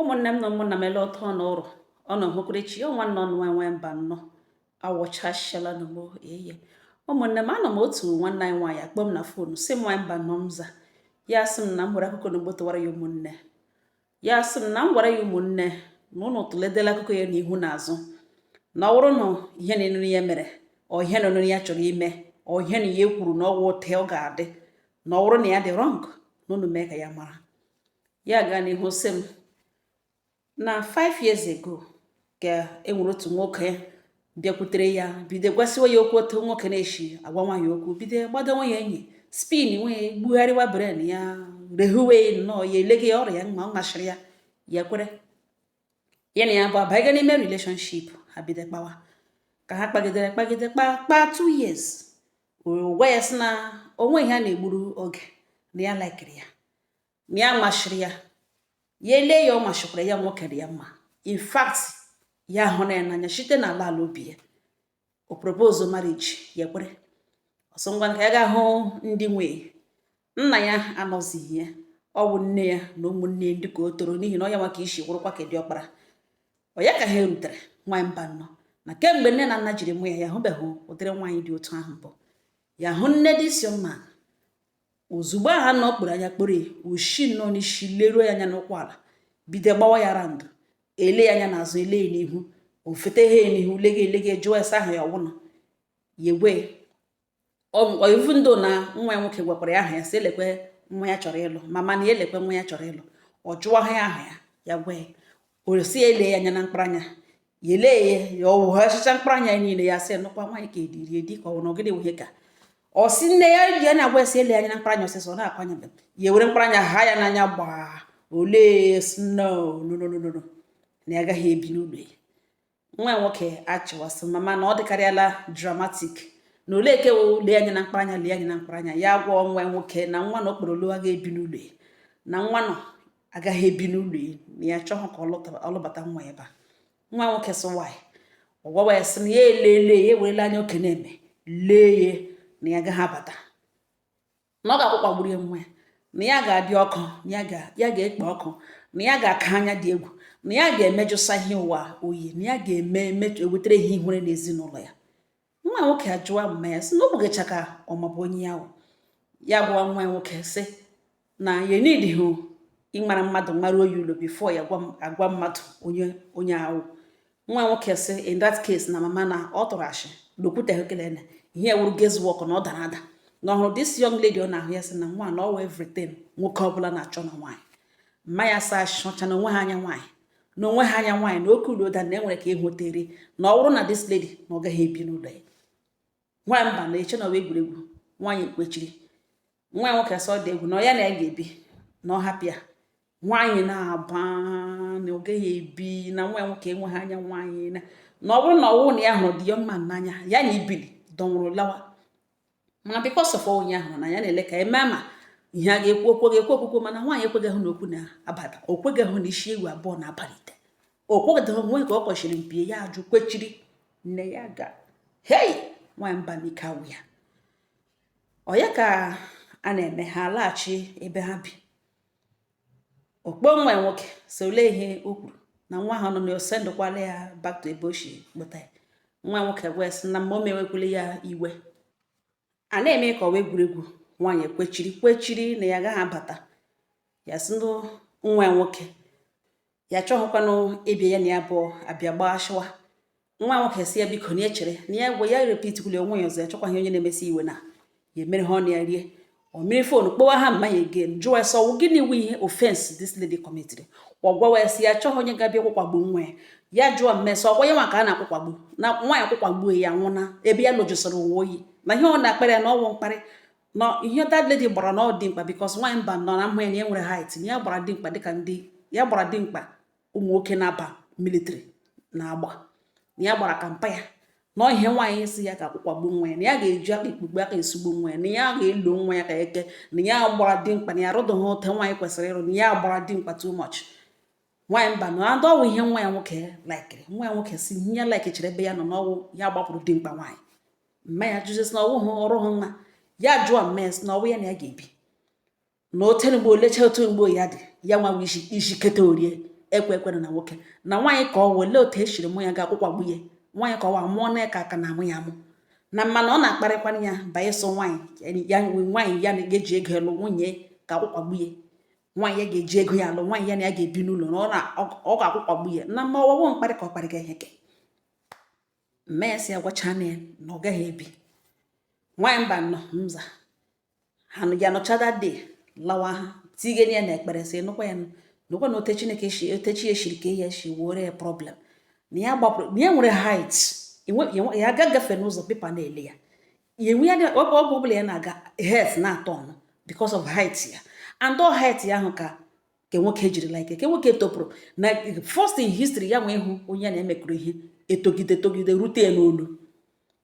ụmụnne m na ụmụnna m ele otu ụnụ rọ ọ na ohụkụrechi ọ nwanne ụnụ nwa mbanọ awọchashala na mo eye ụmụnne m anọ m otu nwanne anyị nwaanyị akpọ m na fonu sị m nwaanyị mbanọ m za ya sị m na m were akụkọ na gbọtọwara ya ụmụnne ya sị m na m gwara ya ụmụnne na ụnụ tụledela akụkọ ya n'ihu na azụ na ọ bụrụ na ihe na enụrụ ya mere ọ ihe na enụrụ ya chọrọ ime ọ ihe na ya kwuru na ọ wụ otu ọ ga-adị na ọ bụrụ na ya dị rọng na ụnụ mee ka ya mara ya gaa n'ihu sị m na 5 years ago ka e nwere otu nwoke bịakwutere ya bido gwasịwa ya okwu otu nwoke na-eshi agwa nwaanyị okwu bido gbadowa ya enyi spin nwee gbugharịwa brain ya rehuwe nnọọ ya elegharịa ya ọ mashịrị ya ya kwere ya na ya abụọ abanye n'ime relationship ha bido kpawa ka ha kpagidere kpagide kpa kpa two years gwa ya sị na o nwee ihe a na-egburu oge na ya laikiri ya na ya mashịrị ya ya elee ya ọ mashịkwara ya nwoke dị ya mma in fact ya hụrụ ya n'anya site na ala ala obi ya o propose marriage ya kwere ọsọ ngwa ka ya ga hụ ndị nwe nna ya anọzighị ya ọ bụ nne ya na ụmụnne ndị ka ọ tọrọ n'ihi na ọ ya nọ ka isi kwụrụkwa ka diọkpara ọ ya ka ha erutere nwaanyị mbanọ na kemgbe nne na nna jiri mụ ya ya hụbeghị ụdịrị nwaanyị dị otu ahụ mbụ ya hụ nne di isi mma ozugbo ha nọ kporo anya kporo ya o shi nnọọ n'isi leruo ya anya n'ụkwụ ala bido gbawa ya round ele ya anya n'azụ ele ya n'ihu ọ fụta ha n'ihu lege elege jụọ ese aha ya ọ wụ na ya agwa ya even though na nwa ya nwoke gwakwara ya aha ya sị ya lekwe nwa ya chọrọ ịlụ mama na ya lekwe nwa ya chọrọ ịlụ ọ jụọ ha ya aha ya ya gwa ya o si ya ele ya anya na mkparanya ya ele ya ya ọ wụghachicha mkparanya ya niile ya sị nụkwa nwaanyị ka ediri edi ka ọ na ọgịdị wụhe ka ọ si nne ya ji ya na-agwa esi ele anya na mkparanya ọsịsọ ọ na-akwanya mbe ya ewere mkparanya ha ya n'anya gbaa olee snow no no no no no na ya agaghị ebi n'ụlọ ya nwa nwoke achịwa sị mama na ọ dịkarịala dramatic na olee nke wụ lee anya na mkparanya lee anya na mkparanya ya gwa nwa nwoke na nwa nọ okporolu agaghị ebi n'ụlọ ya na nwa nọ agaghị ebi n'ụlọ ya na ya chọghị ka ọ lụbata nwa ebe a nwa nwoke sị nwaanyị ọ gwawa ya sị na ya elele ya ewerela anya oke na-eme lee ya na ya agaghị abata na ọ ga-akwụkwa gburu ya nwa ya na ya ga-adị ọkụ na ya ga-ekpe ọkụ na ya ga-aka anya dị egwu na ya ga-emejụsa ihe ụwa oyi na ya ga-ewetara ihe ihere n'ezinụlọ ya nwa nwoke ajụwa mma ya sị na ọ bụgacha ka ọ mabu onye ya wụ ya gwa nwa ya nwoke sị na ya needihụ ịmara mmadụ maruo ya ụlọ before ya agwa mmadụ onye onye a wụ nwa nwoke sị in that case na mama na ọ tụrụ ashị na o kwuteghị kele na ihe wuru guesswork na ọ dara ada na ọ hụrụ this young lady ọ na-ahụ ya sị na nwa na ọwụ everything nwoke ọbụla na-achọ na nwaanyị mma ya sị achọcha na o nweghị anya nwaanyị na o nweghị anya nwaanyị na oke udo ụda na enwere ka ịhụtere na ọ bụrụ na this lady na ọ gaghị ebi n'ụlọ ya nwa mba na-eche na ọwụ egwuregwu nwaanyị kwechiri nwa nwoke sị ọ dị egwu na ọ ya na ya ga-ebi na ọ hapụ ya nwaanyị na-aba na ọ gaghị ebi na nwa nwoke enweghị anya nwaanyị na na ọ bụrụ na ọwụ na ya hụrụ the young man n'anya ya na ibili dọnwụrụ lawa mana because of onye ahụ na ya na-ele ka eme ma ihe a ga-ekwu okwu ga-ekwu okwukwo mana nwaanyị ekweghị hụ na okwu na-abata o kweghị hụ na isi ewu abụọ na-aba n'ite okpọda onwe ka ọ kpọchiri mpi ya ajụ kwechiri na ya aga hei nwamba ike agwụ ya ọ ya ka a na-eme ha laghachi ebe ha bi ọ kpọọ nwa nwoke sị olee ihe o kwuru na nwa ahụ nọ n'ose ndụkwala ya back to ebe o si kpọta ya nwa nwoke wee sị na mma o mewekwula ya iwe a na-eme ka ọwụ egwuregwu nwaanyị kwechiri kwechiri na ya agaghị abata ya sị nwa nwoke ya achọghịkwanụ ịbịa ya na ya abụọ abịa gbaa shụwa nwa nwoke sị ya biko na echere na ya gwa ya repitikwuli onwe ya ọzọ ya chọkwaghị onye na-emesi iwe na ya emere ha ọnụ ya rie o were phone kpọwa ha mma ya again jụwa ya sị ọwụ gịnị wụ ihe offense this lady committed ọ gwawa ya sị ya achọghị onye ga-abịa kwụkwagbu nwa ya ya jụọ mma ya sị ọkwa ya nwa ka a na-akwụkwagbu na nwa ya kwụkwagbuo ya nwụna ebe ya lụjụsịrị uwe oyi na ihe ọ na-akpara ya na ọwụ mkparị na ihe that lady gbara na ọ dimkpa because nwaanyị mba nọ na mma ya na ya nwere height na ya gbara dimkpa dịka ndị ya gbara dimkpa ụmụ nwoke na-aba military na-agba na ya gbara ka mpa ya na ihe nwaanyị sị ya ga-akwụkwagbu nwa ya na ya ga-eji aka ikpugbu aka esugbu nwa ya na ya ga-elo nwa ya ka eke na ya gbara dimkpa na ya rụdụghị ote nwaanyị kwesịrị ịrụ na ya gbara dimkpa too much nwaanyị mba na adọ ọwụ ihe nwa ya nwoke laikiri nwa ya nwoke sị ihe ya laikichiri ebe ya nọ na ọwụ ya gbapụrụ dimkpa nwaanyị mma ya jụzie sị na ọwụ ha ọrụ ha nwa ya jụọ mma ya sị na ọwụ ya na ya ga-ebi na o tere mgbe olecha otu mgbe ya dị ya nwa isi isi keta orie ekwe ekwere na nwoke na nwaanyị ka ọwa olee otu esiri mụ ya ga-akwụkwagbu ya nwaanyị ka ọwa mụọ na ka aka na amụ ya amụ na mana ọ na-akparịkwara ya banye so nwaanyị ya nwaanyị ya ga-eji ego lụ nwunye ga-akwụkwagbu ya nwaanyị ya ga-eji ego ya alụ nwaanyị ya na ya ga-ebi n'ụlọ na ọ ga-akwụkwagbu ya na mma ọwụwa mkparị ka ọ kparịga ihe ke mma ya sị agwachana ya na ọ gaghị ebi nwaanyị mba nọ mza ha ya nọchada dị lawa ha tigene ya na ekpere sị nụkwa ya nụkwa na ote chineke shi ote chi ya shiri kee ya shi were ya problem na ya gbapụrụ na ya nwere height ya aga gafe n'ụzọ people na-ele ya ya anywhere ọbụla ya na-aga heads na-aturn because of height ya and all height ya ahụ ka ke nwoke jiri like ke nwoke topụrụ na first in history ya nwee ịhụ onye na ya mekọrọ ihe etogide togide rute ya n'olu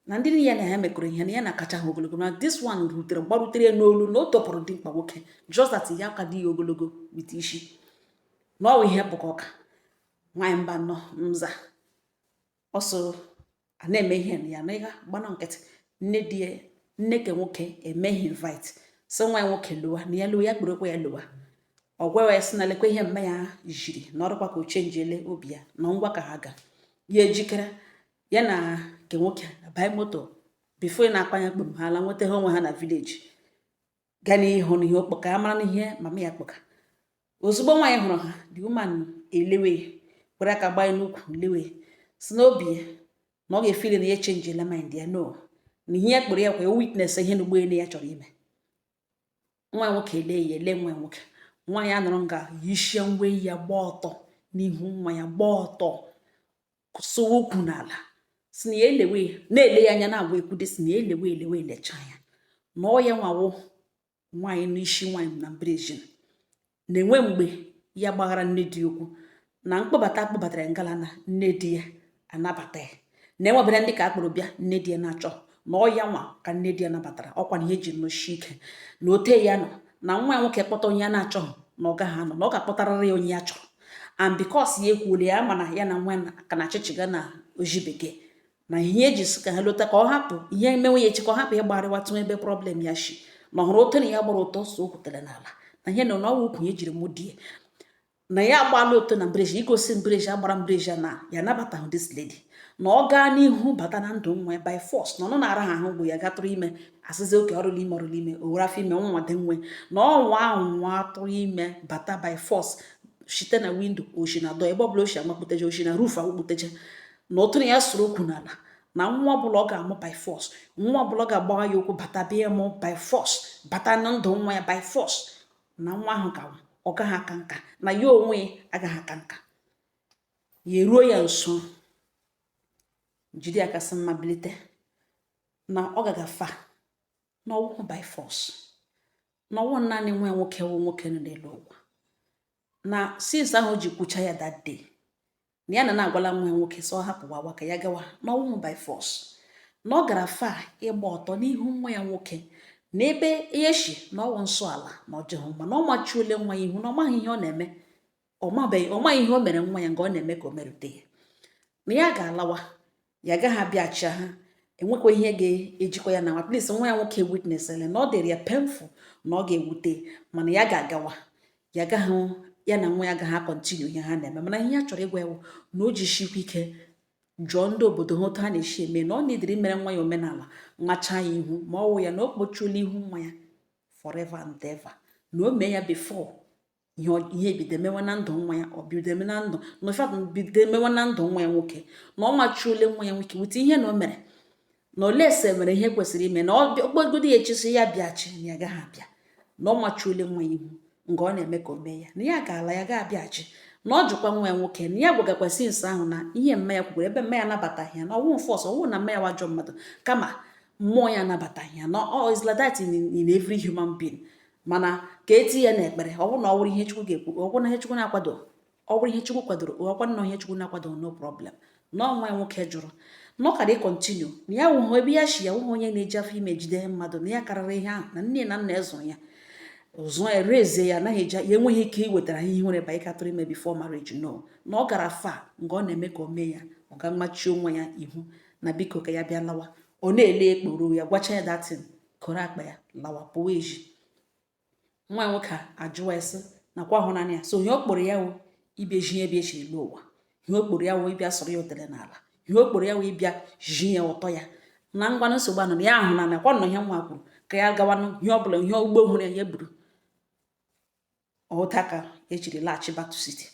na ndị niile na ya mekọrọ ihe na ya na-akacha ha ogologo na this one rutere gbarutere ya n'olu na o topụrụ dimkpa nwoke just that ya ka di ya ogologo with isi na ọwa ihe bụkọ ọka nwaanyị mba nọ mza ọsọ a na-eme ihe na ya na ịga gbana nkịtị nne di ya nne ke nwoke emee ha invite sị nwa ya nwoke lọwa na ya lọwa ya kpọrọkwa ya lọwa ọ gwawa ya sị na lekwa ihe mma ya jiri na ọ dụkwa ka o changele obi ya na ngwa ka ha ga ya ejikere ya na nke nwoke abaị moto before ị na-akpa anya kpom ha ala nweta ha onwe ha na village gaa n'ihu n'ihe ọ kpọ ka a mara n'ihe mama ya kpọka ozugbo nwaanyị hụrụ ha the woman elewe were aka gbanye n'ukwu lewe si n'obi ya na ọ ga-efili na ya echangela mind ya no na ihe ya kpọrọ ya ka ọ witness ihe na ugbu a na ya chọrọ ime nwa nwoke ele ya ele nwa nwoke nwaanyị anọrọ nga yishie uwe ya gbaa ọtọ n'ihu nwa ya gbaa ọtọ kụsụwa ukwu n'ala si na ya elewe na-ele ya anya na-agwa ekwude si na ya elewe elewe elecha ya na ọ ya nwa wụ nwaanyị n'isi nwaanyị na mbrejin na enwe mgbe ya gbaghara nne di ya okwu na mkpọbata a kpọbatara ngala na nne di ya anabata ya na enwebere ndị ka a kpọrọ bịa nne di ya na-achọ na ọ ya nwa ka nne di ya nabatara ọkwa na ihe ji nọshi ike na ote ya nọ na nwa ya nwoke kpọta onye ya na-achọghị na ọ gaghị anọ na ọ ga-akpọtarịrị ya onye ya chọrọ and because ya ekwuola ya mana ya na nwa ka na achịchịga na oji bekee na ihe e ji sị ka ha lota ka ọ hapụ ihe emenwe ya echi ka ọ hapụ ịgbarịwa tụ ebe problem ya shi na ọ hụrụ ote na ya gbara ọtọ sụọ ukwu tere n'ala na ihe na na ọwa ukwu ya jiri mụ di ya na ya agbala ọtọ na mbreji igosi mbreji agbara mbreji na ya nabatahụ this lady na ọ gaa n'ihu bata na ndụ nwa ya by force na ọ nọ na-ara ha ahụ bụ ya ga tụrụ ime asịzi okay ọ dụ ime ọ dụ ime o were afọ ime nwa dị nwe na ọnwa ahụ nwa atụrụ ime bata by force site na window o shi na door ebe ọbụla o shi amakputeje o shi na roof akpụkputeje na otu na ya sụrụ ukwu n'ala na nwa ọbụla ọ ga-amụ by force nwa ọbụla ọ ga-agbawa ya okwu bata bịa mụ by force bata na ndụ nwa ya by force na nwa ahụ ka ọ gaghị aka nka na ya onwe ya agaghị aka nka ya eruo ya nso jide ya aka sị mma bilite na ọ gaga far na ọ wụhụ by force na ọ wụ naanị nwa ya nwoke wụ nwoke nọ n'elu ụwa na since ahụ o ji kwucha ya that day na ya na na agwala nwa ya nwoke sị ọ hapụ nwa a ka ya gawa na ọ wụhụ by force na ọ gara far ịgba ọtọ n'ihu nwa ya nwoke na ebe ya shi na ọ wụ nsọ ala na ọ dịghị mma na o mechuole nwa ya ihu na ọ maghị ihe ọ na-eme ọ maghị ihe o mere nwa ya nga ọ na-eme ka o merute ya na ya ga-alawa ya gaghị abịachi ha enwekwa ihe ga-ejikọ ya na nwa please nwa ya nwoke witness ele na ọ dịrị ya painful na ọ ga-ewute mana ya ga-agawa ya gaghị ya na nwa ya gaghị a-continue ihe ha na-eme mana ihe ya chọrọ ịgwa ya wụ na o jishikwa ike jụọ ndị obodo ha otu ha na-esi eme na ọ na-ediri mere nwa ya omenala macha ya ihu ma ọ wụ ya na o kpochuola ihu nwa ya forever and ever na o mee ya before ihe bido emewe na ndụ nwa ya ọ bido eme na ndụ na ụfọdụ bido emewe na ndụ nwa ya nwoke na ọ machuole nwa ya nwoke with ihe na o mere na unless e mere ihe kwesịrị ime na ọ kpọgodi ya echi sị ya bịachi na ya gaghị abịa na ọ machuole nwa ya ihu nga ọ na-eme ka o mee ya na ya ga-ala ya ga-abịachi na ọ jụkwa nwa ya nwoke na ya gwagakwa since ahụ na ihe mma ya kwukwara ebe mma ya anabataghị ya na ọ wụhụ force ọ wụhụ na mma ya wụ ajọ mmadụ kama mmụọ ya anabataghị ya na ọ is like that in, in every human being mana ka eti ya n'ekpere ọ bụrụ na ọ bụrụ ihe chukwu ga-ekwu ọ bụrụ na ihe chukwu na-akwado ọ bụrụ ihe chukwu kwadoro ọkwa nnọọ ihe chukwu na-akwado no problem na nwa nwoke jụrụ na ọ kara ị-continue na ya wụhụ ebe ya shi ya wụhụ onye na-eji afọ ime jide mmadụ na ya karịrị ihe ahụ na nne na nna ya zụrụ ya ụzọ e raise-ie ya anaghị eji ya enweghị ike iwetara ihe nwere ba ịga tụrụ ime before marriage no na ọ gara far nga ọ na-eme ka o mee ya ọ ga machie nwa ya ihu na biko ka ya bịa lawa ọ na-ele a kpọrọ ya gwacha ya that thing koro akpa ya lawa pụwa ezi nwa nwoke ajụwa ya sị na ọ kwa ahụ naanị ya so ihe ọ kpọrọ ya wụ ịbịa ji ya bịa chiri ụwa ihe ọ kpọrọ ya wụ ịbịa sọrọ ya otele n'ala ihe ọ kpọrọ ya wụ ịbịa ji ya ụtọ ya na ngwanụ nsogbu anọ na ya ahụ na nakwa nọ ihe nwa kwuru ka ya gawanụ ihe ọbụla ihe ụgbọ hụrụ ya ya buru otu a ka ya jiri laghachi back to city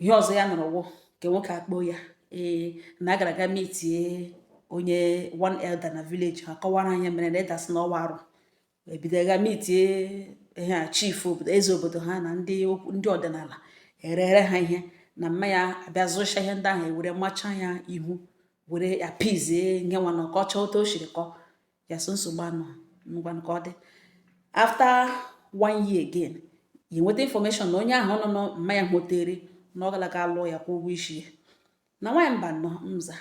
ihe ọzọ ya nụrụ wụ nke nwoke akpọ ya ee na agara aga meet-ie onye one elder na village ha kọwara ya ihe mere na elder sị na ọ wụ arụ ebido ga meet-ie ihe a chief obodo eze obodo ha na ndị ndị ọdịnala erere ha ihe na mma ya abịa zụcha ihe ndị ahụ ewere macha ya ihu were appease-ie ihe nwa na ọ kọcha otu o shiri kọ ya sị nsogbu anọ ngwanụ ka ọ dị after one year again ya enweta information na onye ahụ nọ na mma ya họtere na ọ galaga lụọ ya kwụọ ụgwọ isi ya na nwaanyị mba nọ mza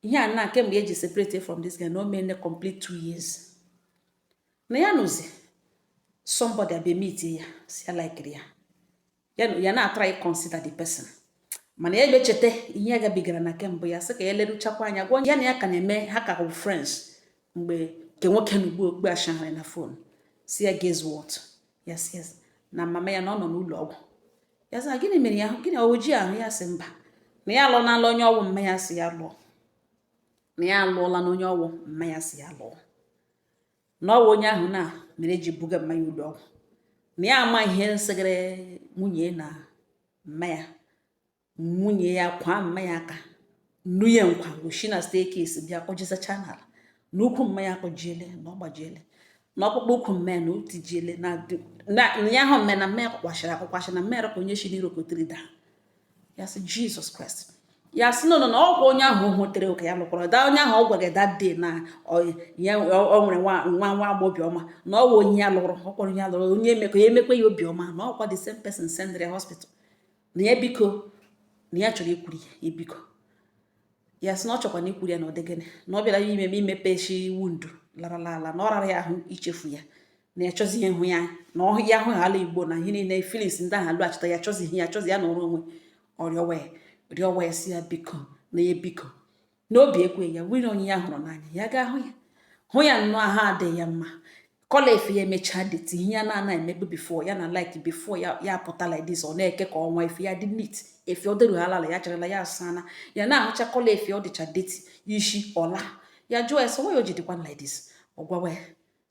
ihe a na kemgbe ya ji separate from this guy na o meene complete two years na ya nọzi somebody abịa meet ya sị ya like-iri ya ya na ya na-a-try ị-consider the person mana ya echeta ihe ya gabigara na kemgbe ya sị ka ya leruchakwa anya gwa ya na ya ka na-eme ha ka bụ friends mgbe nke nwoke na ugbo okpu achagharị na phone sị ya guess what ya sị na mama ya na ọ nọ n'ụlọ ọgwụ ya sị gịnị mere ya gịnị o ji ahụ ya sị mba na ya alụọnala onye ọ wụ mma ya sị ya lụọ na ya alụọlana onye ọ wụ mma ya sị ya lụọ na ọ bụ onye ahụ na mere eji buga mma ya ụlọ ọgwụ na ya ama ihe nsịgịrị nwunye na mma ya nwunye ya kwa mma ya aka nnu ya nkwa o shi na staircase bịa kpọjisacha n'ala na ụkwụ mma ya akpọjiele na ọ gbajiele na ọkpụkpụ ụkwụ mma ya na o tijiele na ya ahụ mma ya na mma ya kpọkwachara akpọkwachara na mma ya rọpụ onye shi n'iro kotere daa ya sị Jesus Christ ya sị no no na ọ kwa onye ahụ hụtere oke ya lụkwara da onye ahụ ọ gwara gị that day na ya o nwere nwa nwa nwa agbọ obiọma na ọ wụ onye ya lụrụ ọ kpọrọ onye ya lụrụ onye emekọ ya emekwa ya obiọma na ọ kwa the same person sendịrị ya hospital na ya biko na ya chọrọ ikwuri ya biko ya sị na ọ chọkwa na ikwuri ya na ọ dị gịnị na ọ bịara ya ime imepeshi wound larala ala na ọ rara ya ahụ ichefu ya na ya chọzi ịhụ ya na ọ hụ ya ahụ ala igbo na ihe niile feelings ndị ahụ alọghachita ya chọzi ihe ya chọzi ya nọrọ onwe ọ rịọwa ya rịọwa ya sị ya biko na ya biko n'obi ekwe ya nwere onye ya hụrụ n'anya ya ga ahụ ya hụ ya nnọọ ahụ adịghị ya mma collar efe ya emechaa dirty ihe ya na-ana emebu before ya na like before ya ya pụta like ọ na-eke ka ọnwa efe ya dị neat efe ọ dịrughi alala ya charala ya asana ya na-ahụcha collar efe ọ dịcha dirty isi ọla ya jụọ ya sọ nwa ya o ji dịkwa like this ọ gwawa ya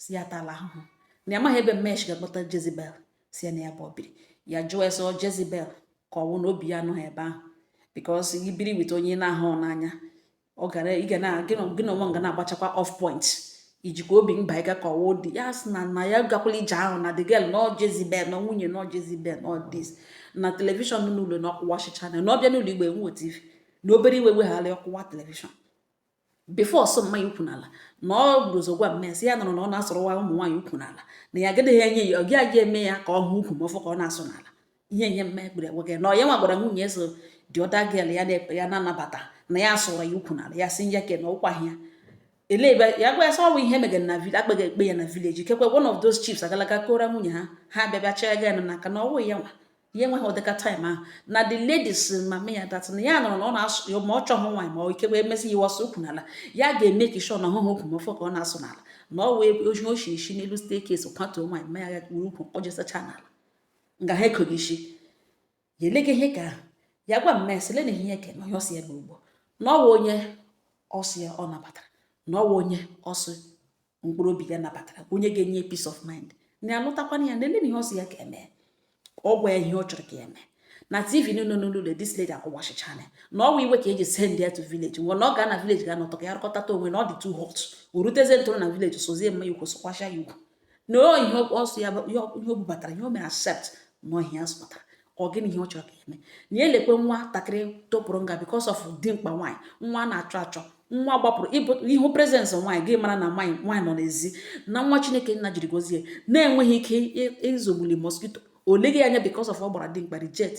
sị ya tala ahụhụ na ya maghị ebe Mmesi ga-akpọta Jezebel sị ya na ya bụ obiri ya jụọ ya so Jezebel ka ọ wụ na obi ya anọghị ebe ahụ because i biri with onye na-ahụ n'anya ọ gara ị ga na gị na onwe ga na-agbachakwa off point ijikwa obi mba ịga ka ọ wụ di ya sị na na ya gakwala ije ahụ na the girl nọ Jezebel na nwunye nọ Jezebel nọ this na telivishọn n'ụlọ na ọ kụwachicha na ọ bịa n'ụlọ ugbu a enweghị tv na obere iwe wegharị ọ kụwa telivishọn before ọ sụọ mma ya ụkwụ n'ala na ọ bụrụ ụzọ gwa Mmesi ya nọrọ na ọ na-asụrụwa ụmụ nwaanyị ụkwụ n'ala na ya agaghị enye ya ọ gị aga eme ya ka ọ hụ ụkwụ ma ọ fọ ka ọ na-asụ n'ala ihe ihe mma ekpere gwa gị na ọ ya nwa gwara nwunye so the other girl ya na-ekpe ya na-anabata na ya asụrụ ya ụkwụ n'ala ya sị ya ke na ọ kwa ya ele ebe ya gwa ya sọ ọ wụ ihe megara na village akpaghị ekpe ya na village kekwe one of those chiefs agalaga kora nwunye ha ha bịabịa chọọ ego ya na n'aka na ọ wụ ya nwa ya enweghị ụdịka time ahụ na the ladies mama ya that na ya nọrọ na ọ na-asụ ya ma ọ chọghị nwaanyị ma ike wee mesi ya ọ sụọ ụkwụ n'ala ya ga-eme ka i shị na ọ hụhụ ụkwụ ma ọ fọ ka ọ na-asụ n'ala na ọ wee o ji o shi isi n'elu staircase kwatuo nwaanyị ma ya ga kpuru ụkwụ kpọjisacha n'ala nga ha ekoghị isi ya eleghị ihe ka ahụ ya gwa Mmesi lee na ihe ke na onye ọ sị ya bụ ugbo na ọ wụ onye ọ sị ya ọ nabatara na ọ wụ onye ọ sị mkpụrụ obi ya nabatara onye ga-enye peace of mind na alụtakwana ya nele na ihe ọ sị ya ka eme ọ gwa ya ihe ọ chọrọ ka ya eme na tv niile n'ụlọ this lady akụwachichaala na ọ bụ iwe ka eji send ya to village nwa na ọ ga na village ga nọtụ ka ya rụkọtata onwe na ọ dị too hot o ruteze ntụrụ na village sụzie mma ya ụkwụ sụkwasha ya ụkwụ na ihe ọ sụ ya ihe o bubatara ihe o mere accept na ọ ihe ya sụpụtara ka ọ gịnị ihe ọ chọrọ ka e mee na ya elekwe nwatakịrị topụrụ nga because of dimkpa nwaanyị nwa na-achọ achọ nwa gbapụrụ ihu presence nwaanyị gị mara na nwaanyị nwaanyị nọ n'ezi na nwa chineke nna jiri gọzie na-enweghị ike izogbuli mosquito o leghị anya because of ọ gbara dimkpa reject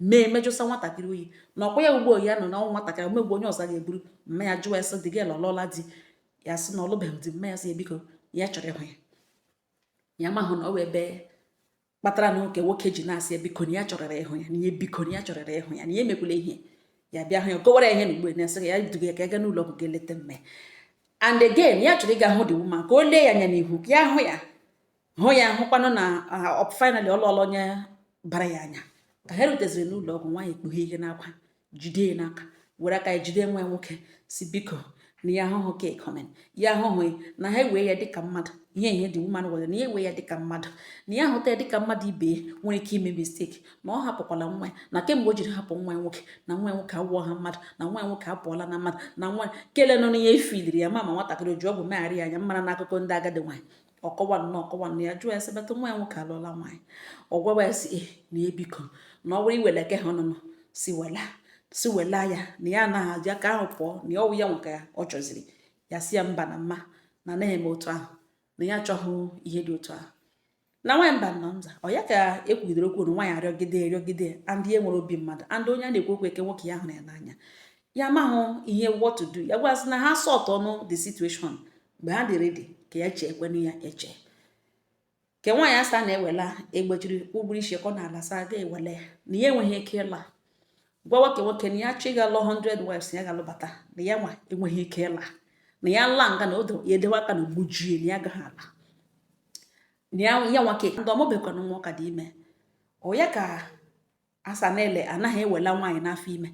mee mejụsa nwatakịrị oyi na ọ kwa ya ugbo ya nọ na ọnwụ nwatakịrị omegbu onye ọzọ ga-eburu mma ya jụọ ya sị dị gị lụọla di ya sị na ọ lụbeghị di mma ya sị ya biko ya chọrọ ịhụ ya ya mahụ na ọ wụ ebe kpatara nke nwoke ji na-asị ya biko na ya chọrọrọ ịhụ ya na ihe biko na ya chọrọrọ ịhụ ya na ya emekwula ihe ya bịa hụ ya gọwara ya ihe na ugbo na-asị ya duga ya ka ya gaa n'ụlọ ọgwụ ga eleta mme and again ya chọrọ ịga hụ the woman ka o lee ya anya n'ihu ka ya hụ ya hụ ya hụkwanụ na finally ọ lụọla onye bara ya anya ka ha ruteziri n'ụlọ ọgwụ nwaanyị ekpughe ihe n'akwa jide ya n'aka were aka ya jide nwa ya nwoke sị biko na ya ahụhụ ka ịkọmen ya ahụhụ na ha ewee ya dịka mmadụ ihe ihe the woman were na ya ewee ya dịka mmadụ na ya ahụta ya dịka mmadụ ibe ya nwere ike ime mistake na ọ hapụkwala nwa ya na kemgbe o jiri hapụ nwa ya nwoke na nwa ya nwoke awụọ ha mmadụ na nwa ya nwoke apụọla na mmadụ na nwa kele nọ n'ihe ifiliri ya ma ma nwatakịrị o ji ọgwụ megharị ya anya mara n'akụkọ ndị agadi nwaanyị ọ kọwa nne ọ kọwa nne ya jụọ ya sị bata nwa ya nwoke alụọla nwaanyị ọ gwawa ya sị eh, na e biko na ọ bụrụ iwela ke ha ọnụnụ sị wela sị wela ya na ya anaghị aji aka ahụ pụọ na ya ọwụ ya nwoke ya ọ chọziri ya sị ya mba na mma na anaghị eme otu ahụ na ya achọghị ihe dị otu ahụ na nwaanyị mbano nza ọ ya ka e kwugidere okwu na nwaanyị arịọgide arịọgide and e nwere obi mmadụ and onye a na-ekwu okwu nke nwoke ya hụrụ ya n'anya ya mahụ ihe what to do ya gwasị na ha sort out the situation mgbe ha dị ready ka ya chee kwenu ya eche ke nwaanyị asa na-ewela egbejiri ụgbụrụ isi kọ n'ala sa ga ewele ya na ya enweghị ike ịla gwa nwoke nwoke na ya chọọ ịga lụọ 100 wives ya ga-alụbata na ya nwa enweghị ike ịla na ya laa nga na odo ya edewe aka na gbujie na ya gaghị ala na ya nwoke ndị ọ mụbekwana nwa ọ ka dị ime ọ ya ka asa na-ele anaghị ewela nwaanyị n'afọ ime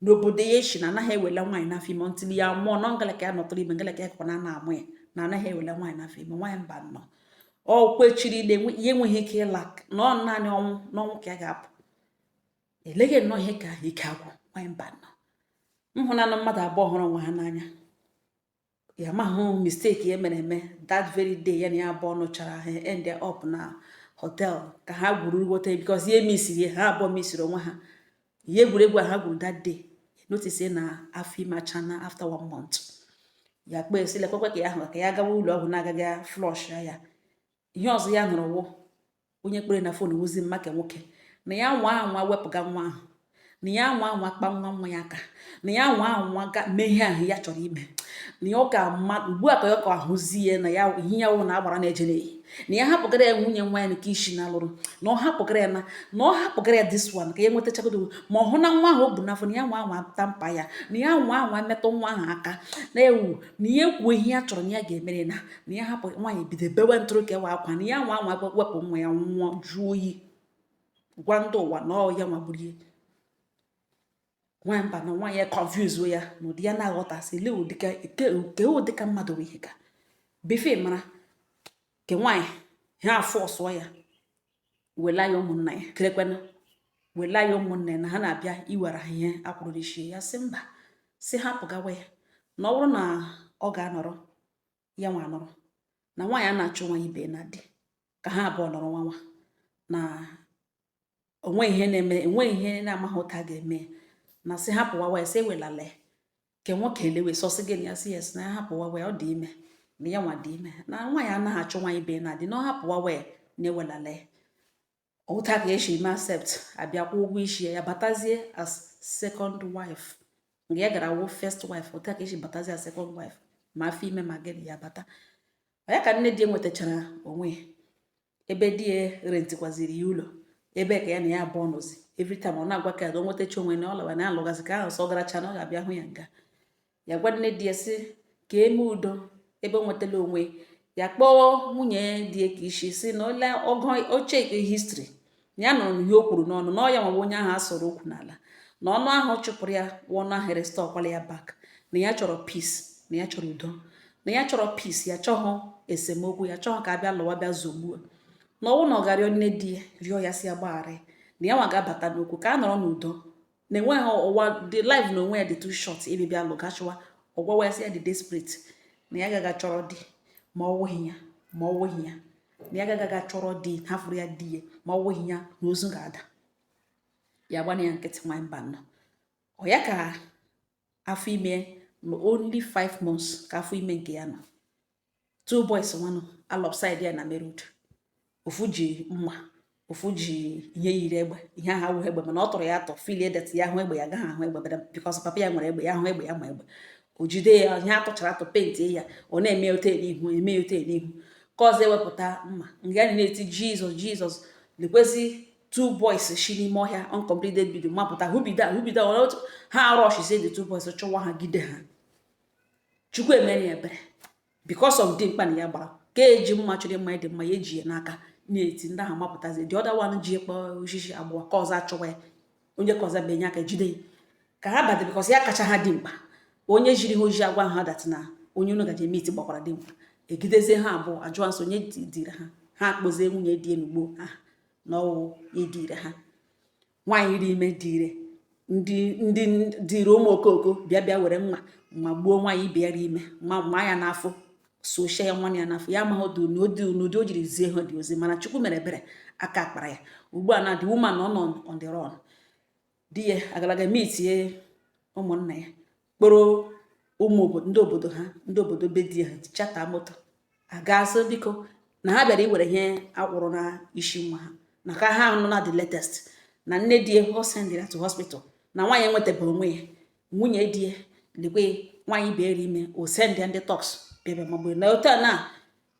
n'obodo ya sị na anaghị ewela nwaanyị n'afọ ime until ya mụọ nọ ngala ka ya nọtụrụ ime ngala ka ya kọkwa na a na-amụ ya na anaghị ewela nwaanyị n'afọ ime nwaanyị mbano ọ kwechiri ile ya enweghị ike ịla na ọ naanị ọnwụ n'ọnwụ ka ya ga-apụ eleghị nnọọ ihe ka ike agwụ nwaanyị mbano m hụnanụ mmadụ abụọ hụrụ onwe ha n'anya ya mahụ mistake ya mere eme that very day ya na ya abụọ ṅụchara ha end up na hotel ka ha gwuru wota because ihe mesịrị ha abụọ mesịrị onwe ha ihe egwuregwu a ha gwuru that day notice na afọ ime achaana after one month ya kpee sị lekwekwe ka ya ahụ ka ya gawa ụlọ ọgwụ na-aga ị flush ya ihe ọzọ ya nụrụ wụ onye kpọrọ na fon wụzi mama ke nwoke na ya nwa anwa wepụga nwa ahụ na ya nwa anwa kpa nwa nwa ya aka na ya nwa anwa ga mee ihe ahụ ya chọrọ ime na ya ọ ga-ama ugbu a ka ya ka ahụzi ya na ya ihe ya wụ na agbara na-eje n'ehi na ya hapụgara ya nwunye nwa ya nke isi na alụrụ na ọ hapụgara ya na na ọ hapụgara ya this one ka ya nwetachagodo ma ọ hụ na nwa ahụ o bu n'afọ na ya nwa anwa tamper ya na ya nwa anwa metụ nwa ahụ aka na-ewu na ya kwuo ihe ya chọrọ na ya ga-emere na na ya hapụ nwaanyị bido bewe ntụrụ ka ewe akwa na ya nwa anwa wepụ nwa ya nwụọ jụọ oyi gwa ndị ụwa na ọ ya nwa gburu ya nwaanyị mba na nwaanyị a confuse ya na ụdị ya na-aghọtasị lee ụdịka ke ụdịka mmadụ bụ ihe ka befe mara ke nwaanyị ahụ afọ ọsụọ ya wela ya ụmụnna ya kelekwana wela ya ụmụnna ya na ha na-abịa iwere ha ihe akwụrụ n'isi ya sị mba sị hapụ gawa ya na ọ bụrụ na ọ ga-anọrọ ya nwa anọrọ na nwaanyị anaghị achụ nwa ibe ya na di ka ha abụọ nọrọ nwa nwa na onwe ihe na-eme enwe ihe na-amaghị ụta ga-eme na sị hapụwawa ya sị ewelala ya nke nwoke elewe sọsị gị na ya sị yes na ya hapụwawa ya ọ dị ime na ya nwa dị ime na nwaanyị anaghị achụ nwa ibe ya na di na ọ hapụwawa ya na ewelala ya ụta ka esi mee accept a bịa kwụọ ụgwọ isi ya batazie as second wife nke ya gara wụ first wife ụta ka esi batazie as second wife ma afọ ime ma gịnị ya bata ya ka nne di ya nwetachara onwe ebe di ya rentikwaziri ya ụlọ ebe ka ya na ya abụọ nọzi every time ọ na-agwa ka ya o nwetacha onwe na ọ lawa na alụgazi ka ahụ sọ garacha na ọ ga-abịa hụ ya nga ya gwa nne di ya sị ka e mee udo ebe o nwetala onwe ya kpọọ nwunye di ya ka isi si na ole ọgụ oche history na ya nụrụ ihe o kwuru n'ọnụ na ọ ya nwawa onye ahụ a sọrọ okwu n'ala na ọnụ ahụ ọ chụpụrụ ya wụ ọnụ ahụ erestorekwala ya back na ya chọrọ peace na ya chọrọ udo na ya chọrọ peace ya chọghọ esemokwu ya chọghọ ka a bịa lụwa bịa zogbuo na ọnwụ na ọ ga-arịọ nne di ya rịọ ya sị ya gbaghara na ya nwa ga-abata n'okwu ka a nọrọ n'udo na enweghị ụwa the life n'onwe ya dị too short ịbịbịa lụgachịwa ọ gwawa ya sị ya dị desperate na ya gaga chọrọ di ma ọ wụghị ya ma ọ wụghị ya na ya gaga chọrọ di hafụrụ ya di ya ma ọ wụghị ya na ozu ga-ada ya gbana ya nkịtị nwaanyị mba na ọ ya ka afọ ime na only 5 months ka afọ ime nke ya nọ two boys nwanụ alongside ya na main road ofu ji mma ofu ji ihe yiri egbe ihe ahụ awụghị egbe mana ọ tọrọ ya atọ feelie that ya hụ egbe ya gaghị ahụ egbe bada because papa ya nwere egbe ya hụ egbe ya ma egbe o jide ya ihe atọchara atọ penti ya ọ na-eme ote n'ihu eme ote n'ihu ke ọzọ ewepụta mma nga anyị na-eti jizọs jizọs lekwezi two boys si n'ime ọhịa uncompleted bido mapụta who be that who be that ha arushizie the two boys chụwa ha gide ha chukwu emere ya ebere because of dimkpa na ya gbara ka eji mma chụrụ mma dị mma ya eji ya n'aka na-eti ndị ahụ mapụtazi the other one ji ekpe osisi abụọ ka ọzọ achọwa ya onye ka ọzọ benye aka jide ya ka ha bata because ya kacha ha dimkpa onye ziri ha ozi agwa ha that na onye unu gaje meet gbakwara dimkpa egidezie ha abụọ ajụọ nso onye dire ha ha akpọzie nwunye di enugbo ha na ọ wụ ya dire ha nwaanyị rị ime dire ndị ndị dire ụmụ okooko bịa bịa were mma magbuo nwaanyị ibe ya rị ime ma ma ya n'afọ sochie ya nwa ya n'afọ ya amaghị otu n'ụdị n'ụdị o jiri zie ha the ozi mana chukwu mere ebere aka akpara ya ugbu a na the woman nọ on the run di ya agalaga mitie ụmụnna ya kpọrọ ụmụ ndị obodo ha ndị obodo be di ha charter moto aga asị biko na ha bịara iwere ihe a kwụrụ na isi nwa ha na ka ha nọ na the latest na nne di ya ọ sendịra to hospital na nwaanyị enwetabeghị onwe ya nwunye di ya lekwe nwaanyị ibe ya rị ime o sendịa ndị thugs bịa bịa magburu na otu a na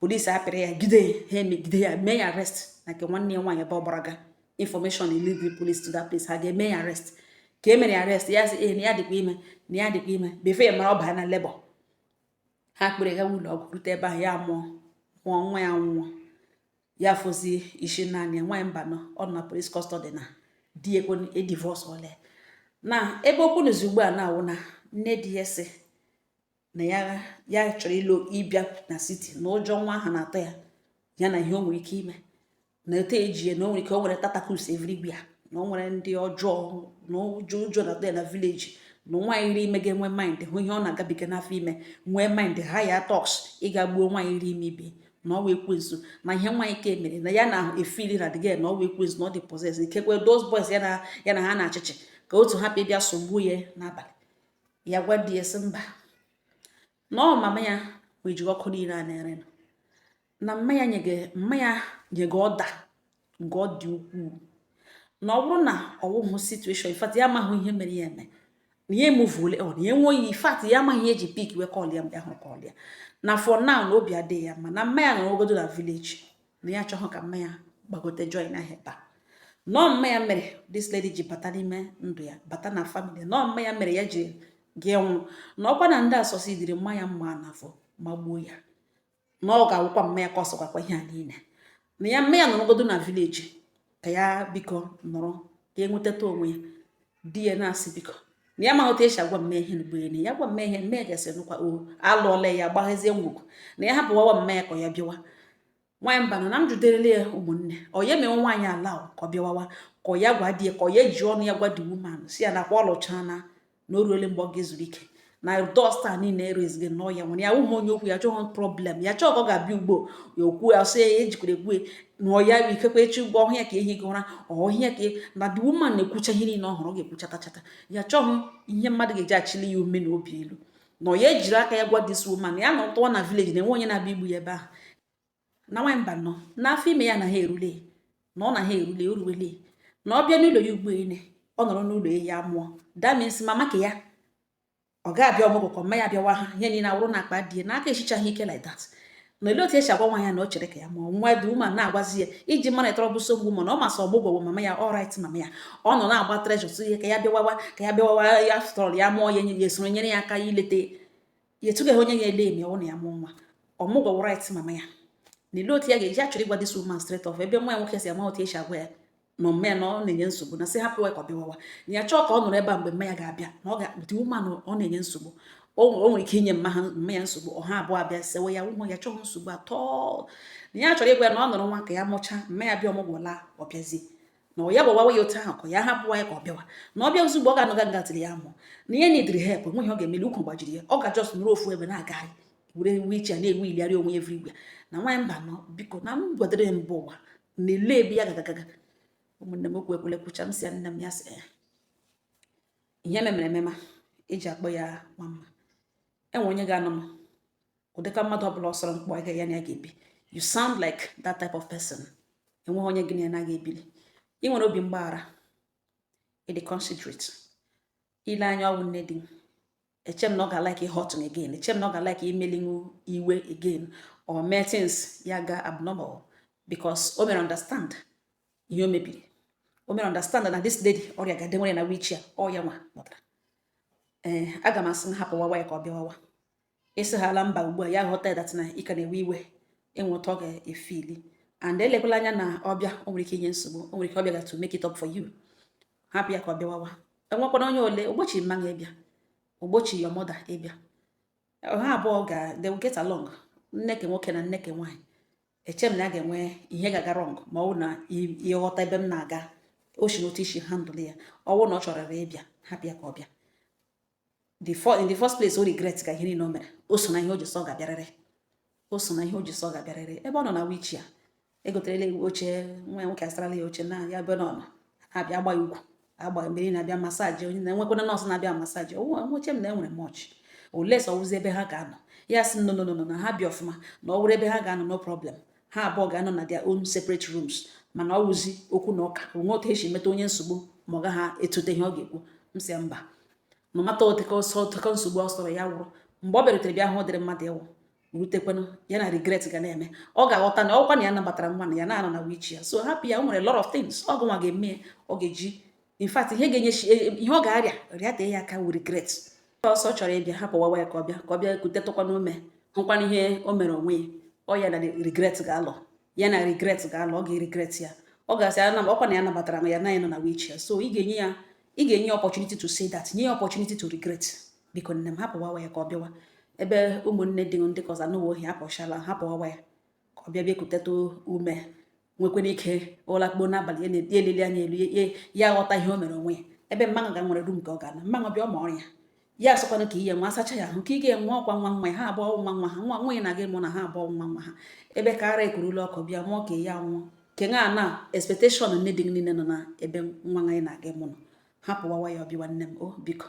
police apịrị ya gide ha emegide ya mee ya arrest na nke nwanne ya nwaanyị ebe ọ gbara ga information eleadie police to that place ha ga-eme ya arrest ka e mere ya arrest ya sị ee na ya dịkwa ime na ya dịkwa ime before ya mara ọ baa na labour ha kpọrọ ya gawa ụlọ ọgwụ rute ebe ahụ ya mụọ mụọ nwa ya nwụọ ya fọzie sọ naanị ya nwaanyị mba nọ ọ nọ na police custody na di ekwe edivorce ole na ebe okwu nọzi ugbu a na-awụ na nne di ya sị na ya ya chọrọ ịlụ ịbịa na city na ụjọ nwa ahụ na-atọ ya ya na ihe o nwere ike ime na etu e ji ya na o nwere ike o nwere tentacles everywhere na o nwere ndị ọjọọ na ụjọ ụjọ na-atọ ya na village na nwaanyị rị ime ga-enwe mind hụ ihe ọ na-agabiga n'afọ ime nwee mind hire thugs ịga gbuo nwaanyị rị ime ibe ya na ọ wụ ekwensu na ihe nwaanyị ka emere na ya na-efeel na the girl na ọ wụ ekwensu na ọ dị possessed ikekwe those boys ya na ha na-achịchị ka otu ha bịa sogbuo ya n'abalị ya gwa di ya sị mba na ọ mama ya meji ọkụ niile a na-ere na mma ya nyega order nke ọ dị ukwuu na ọ bụrụ na ọ wụghị situation in fact ya amaghị ihe mere ya eme na ya emoveole on na ya enweghị in fact ya amaghị ihe e ji pick wee call ya mgbe ahụ call ya na for now na obi adịghị ya mma na mma ya nọrọgodo na village na ya achọghị ka mma ya gbagote join ha here taa na ọ wụ mma ya mere this lady ji bata n'ime ndụ ya bata na family na ọ wụ mma ya mere ya ji ga-anwụ na ọ wụkwa na ndị a succeediri maa ya mma n'afọ magbuo ya na ọ ga-awụkwa mma ya causekwara ihe a niile na ya mma ya nọrọgodo na village ka ya biko nọrọ ka ya nwetata onwe ya di ya na-asị biko na ya maghị otu e si agwa mma ya ihe a ugbu a na ya gwa mma ya ihe a mma ya ga-asị nụkwa o alụọla ya gbaghazie ngwugwu na ya hapụwawa mma ya ka ya bịawa nwaanyị mba na m jụderele ya ụmụnne ọ ya emewe nwaanyị allow ka ọ bịawawa ka ya gwa di ya ka ọ ya ji ọnụ ya gwa the woman sị ya nakwa ọ lụchaala na o ruole mgbe ọ ga-ezuru ike na dust a niile erezighi nọ ya nwere ya ụmụ onye okwu ya chọghị problem ya chọọ ka ọ ga-abịa ugbo ya okwu ya sị ya ejikwara egwu na ọya ikekwe echi ụgwọ ọhịa ka ehi gị ụra ọhịa ka na the woman na-ekwucha ihe niile ọ hụrụ ọ ga-ekwuchatachata ya chọghị ihe mmadụ ga-eji achịli ya ume na obi elu na ọ ya jiri aka ya gwa this woman ya nọtụwa na village na enwe onye na-abịa igbu ya ebe ahụ na nwaanyị mbanọ n'afọ ime ya na ha erule na ọ na ha erule o ruwele na ọ bịa n'ụlọ ya ugbo ele ọ nọrọ n'ụlọ ya mụọ that means mama ka ya ọ ga-abịa ọmụgwọ ka mma ya bịawa ha ihe niile awụrụ na akpa die na aka echichaghị ike like that na olee otu esi agwa nwa ya na ọ chere ka ya mụọ nwa the woman na-agwazi ya iji mara ịtọrọ bụ nsogbu ma na ọ masị ọmụgwọ bụ mama ya ọ right mama ya ọ nọ na-agba pressure tụ ya ka ya bịawawa ka ya bịawawa ya fụtọrọ ya mụọ ya esoro nyere ya aka ileta yetụgaghị onye ya ele emi ọwụ na ya mụọ nwa ọmụgwọ right mama ya na ele otu ya ga-eji achọrọ ịgwa this woman straight off ebe nwa ya nwoke si ama otu esi agwa ya na mma ya na ọ na-enye nsogbu na sị hapụ ya ka ọ bịawawa na ya chọọ ka ọ nọrọ ebe a mgbe mma ya ga-abịa na ọ ga-akpụta woman ọ na-enye nsogbu o nwere ike inye mma ya nsogbu ọ ha abụọ abịa sewe ya ụmụ ya chọghị nsogbu atọ na ya chọrọ ịgwa ya na ọ nọrọ nwa ka ya mụchaa mma ya bịa ọmụgwọ laa ọ bịazie na ọ ya gbawawa ya otu ahụ ka ya hapụwa ya ka ọ bịawa na ọ bịa ozugbo ọ ga-anọga nga till ya mụọ na ihe na-ediri help nweghị ọ ga-emeli ukwu gbajiri ya ọ ga-ajust nọrọ ofu ebe na-agagharị were wheelchair na-ewheeligharị onwe everywhere na nwaanyị mbanọ biko na m gwadere mba ụwa na ele ebe ya gagagaga ụmụnne m okwu ekwele kwucha m sị ya nne m ya sị ya ihe memere emema eji akpọ ya nwa mma enwe onye ga-anọ m ụdịka mmadụ ọbụla ọsọrọ mkpọ aga ya na ya ga-ebi you sound like that type of person enweghị onye gị na ya naghị ebili ị nwere obi mgbaghara ị dị considerate ile anya ọ wụ nne di eche m na ọ ga-alike ịhurt unu again eche m na ọ ga-alike imeli unu iwe again or mee things ya ga abnormal because o mere understand ihe o mebiri o mere understand na this lady ọrịa ga-ede nwere na wheelchair ọ ya nwa kpọtara ee eh, aga m asị m hapụ wawa ya ka ọ bịa wawa ị sị ha ala mba ugbu a ya ghọta ya that na ị ka na-ewe iwe enwe otu ọ ga-efeeli and elekwala anya na ọ bịa o nwere ike inye nsogbu o nwere ike ọ bịaga to make it up for you hapụ ya ka ọ bịawawa enwekwana onye ole ogbochi mma gị ịbịa ogbochi your mother ịbịa ha abụọ ga they will get along nne ke nwoke na nne ke nwaanyị eche m na a ga-enwe ihe ga-aga wrong ma ọ bụ na ị ghọta ebe m na-aga o si n'otu i si handle ya ọ wụ na ọ chọrọ ịbịa hapụ ya ka ọ bịa the for in the first place o regret ga ihe niile o mere o so na ihe o ji sị ọ ga-abịarịrị o so na ihe o ji sị ọ ga-abịarịrị ebe ọ nọ na wheelchair egoterela wheelchair nwa ya nwoke asarala ya oche na ya ebe ọ nọ abịa agba ya ọgwụ agba mmiri na-abịa massage onye na enwekwana nurse na-abịa massage eche m na enwere much unless ọ wụzi ebe ha ga-anọ ya sị no no no na ha bi ọfụma na ọ wụrụ ebe ha ga-anọ no problem ha abụọ ga-anọ na their own separate rooms mana ọ wụzi okwu na ụka o nwe otu e si emeta onye nsogbu ma ọ gaghị etute ihe ọ ga-ekwu m sị mba ma mata oteka ọsọ oteka nsogbu ọ sọrọ ya wụrụ mgbe ọ bịarutere bịa hụ ọ dịrị mmadụ ịwụ rutekwanụ ya na regret ga na-eme ọ ga-aghọta na ọkwa na ya nabatara nwa na ya na-anọ na wheelchair so hapụ ya o nwere lot of things ọ gụnwa ga-eme ọ ga-eji in fact ihe ga-enye e, e, ihe ọ ga-arịa rịata ya aka wụ regret ọsọ chọrọ ịbịa hapụ wawa ya ka ọ bịa ka ọ bịa kutetụkwana ume hụkwana ihe o mere onwe ya ọ ya na regret ga-alọ ya na regret ga-alọ ọ ga-regret ya ọ ga-asị ana ọkwa na ya nabatara m ya na ya nọ na wheelchair so ị ga-enye ya ị ga-enye ya opportunity to say that nye ya opportunity to regret biko nne m hapụ wawa ya ka ọ bịawa ebe ụmụnne di ndị ke ọzọ anụwa ohi hapụchala hapụ wawa ya ka ọ bịa bịa kuteta ume nwekwara ike ụra kpoo n'abalị ya na-eti eleli anya elu ya ghọta ihe o mere onwe ya ebe mmanụ ga nwere room nke ọ ga-anọ mmanụ bịa ọma ọrịa ya asọkwanụ ka ihe nwa asacha ya ahụ ka ị ga-enwe ọkwa nwa nwa ya ha abụọ nwa nwa ha nwa nwunye na-aga ịmụ na ha abụọ nwa nwa ha ebe ka ara ekurula ọkụ bịa mụọ ka ya nwụọ ke nwa na expectation nne di niile nọ na ebe nwa nwa na-aga ịmụ nọ hapụwawa ya ọ bịawa nne m o biko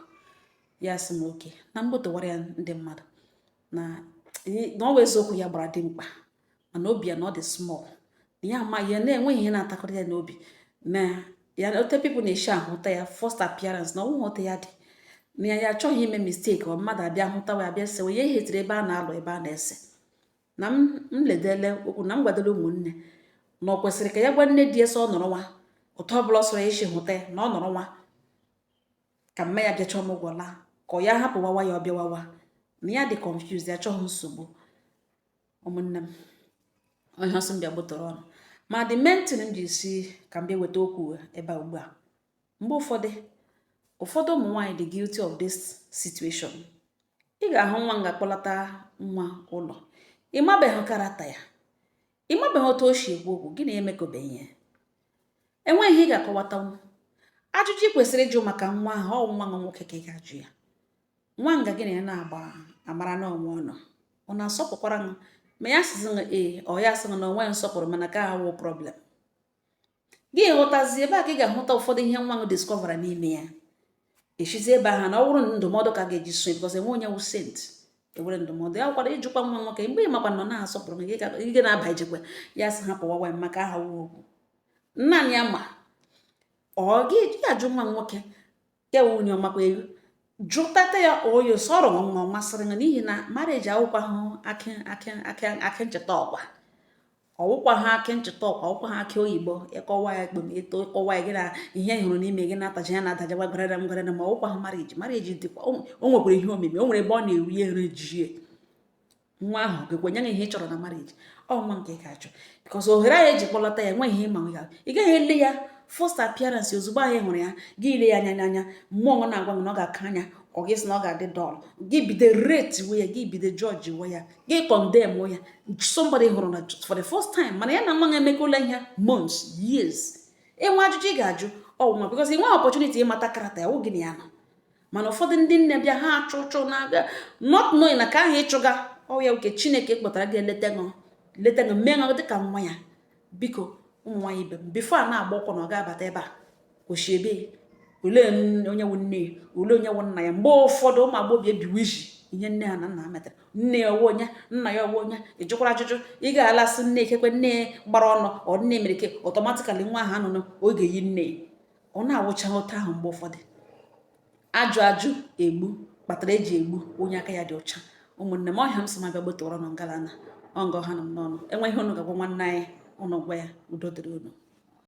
ya sị m oke na mgbotowara ya ndị mmadụ na na ọ wụ eziokwu ya gbara dimkpa mana obi ya na ọ dị small na ya ama ya na-enweghị ihe na-atakọrọ ya n'obi na ya ote people na-eshi ahụta ya first appearance na ọ wụghị ote ya dị na ya ya achọghị ime mistake ọ mmadụ abịa hụtawa abịa sewe ya ehetiri ebe a na-alụ ebe a na-ese na m ledele okwu na m gwadoro ụmụnne na ọ kwesịrị ka ya gwa nne di ya sị ọ nọrọ nwa otu ọbụla ọ sọrọ ya si hụta ya na ọ nọrọ nwa ka mma ya bịacha ọmụgwọ laa ka ọ ya hapụ wawa ya ọ bịawawa na ya dị confused ya achọghị nsogbu ụmụnne m onye ọsọ mbịa gbụtọrọ ọnụ ma the main thing m ji si ka m bịa weta okwu ebe a ugbu a mgbe ụfọdụ ụfọdụ ụmụ nwaanyị dị guilty of this situation ị ga-ahụ nwa nga kpọlata nwa ụlọ ị mabeghị character ya ị mabeghị otu o si ekwu okwu gị na ya emekọbeghị ihe enweghị ihe ị ga-akọwatanwu ajụjụ ị kwesịrị ịjụ maka nwa ahụ ọ nwa nwa nwoke ka ị ga-ajụ ya nwa nga gị na ya na-agba amara na o nwe ọnụ ọ na-asọpụkwara m ma ya sịzị ee ọ ya sị gị na o nwe nsọpụrụ mana ke a wụ problem gị ghọtazi ebe a ka ị ga-ahụta ụfọdụ ihe nwa gị discovera n'ime ya e sizi ebe ahụ na ọ bụrụ ndụmọdụ ka ga-eji sonye because enwe onye wụ saint ewere ndụmọdụ ya kwara ịjụkwa nwa nwoke mgbe ị makwa na ọ na-asọpụrụ gị gị na-aba ijekwe ya sị hapụwawa maka aha wuo okwu nna ya ma ọ gị ajụ nwa nwoke ya wụ onye ọmakwa ego jụtata ya oyo sọrọ nwa ọ masịrị gị n'ihi na marriage awụkwa ha akị akị akị akị e ji ata ụkwa ọwụkwa ha akị e ji ata ụkwa ọwụkwa ha akị oyibo ị kụwaa ya ekpem eto ị kụwaa ya gị na ihe hụrụ n'ime gị na-ataja ya na-ataja gwa gwararam gwararam ọwụkwa ha marriage marriage dịkwa o nwekwara ihe omimi o nwere ebe ọ na-eri eri jie nwa ahụ ga-ekwe nye gị ihe ị chọrọ na marriage ọ nwa nke ị ga-achọ because ohere ahụ eji kpọlata ya enweghị ihe ị ma nwe ya ị gaghị ele ya first appearance ozugbo ahụ ị hụrụ ya gị ile ya anya n'anya mmụọ m na-agwa m na ọ ga-aka anya ọ gị sị na ọ ga-adị dull gị bido rate we ya gị bido judge we ya gị condemn ya somebody ị hụrụ na for the first time mana ya na nwa ya emekọla ihe months years ị nwe ajụjụ ị ga-ajụ ọ wụ nwa because ị nwe opportunity ịmata character ya oge na ya nọ mana ụfọdụ ndị nne bịa ha achụ ụchụ na-aga not knowing na nke ahụ ị chụga ọ ya wụ nke chineke kpọtara ga-eleta ṅụ leta ṅụ mee ṅụ dịka nwa ya biko ụmụ nwaanyị ibe m before a na-agba ụkwụ na ọ ga-abata ebe a o shi ebe olee onye wụ nne ya olee onye wụ nna ya mgbe ụfọdụ ụmụ agbọghọ ebiwe iji ihe nne ha na nna ha metara nne ya ọ wụ onye nna ya ọ wụ onye ị jụkwara ajụjụ ị ga-alasị nne ikekwe nne gbara ọnụ ọ nne mere ke automatically nwa ahụ a mụrụ ọ ga-eyi nne ọ na-awụcha otu ahụ mgbe ụfọdụ ajụ ajụ egbu kpatara eji egbu onye aka ya dị ọcha ụmụnne m ọ ihe a m sị m bịa gbotụrụ unu ngalana ọ nga ọ ha nọ m n'ọnụ e nwee ihe unu ga-agwa nwanne anyị unu gwa ya udo dịrị unu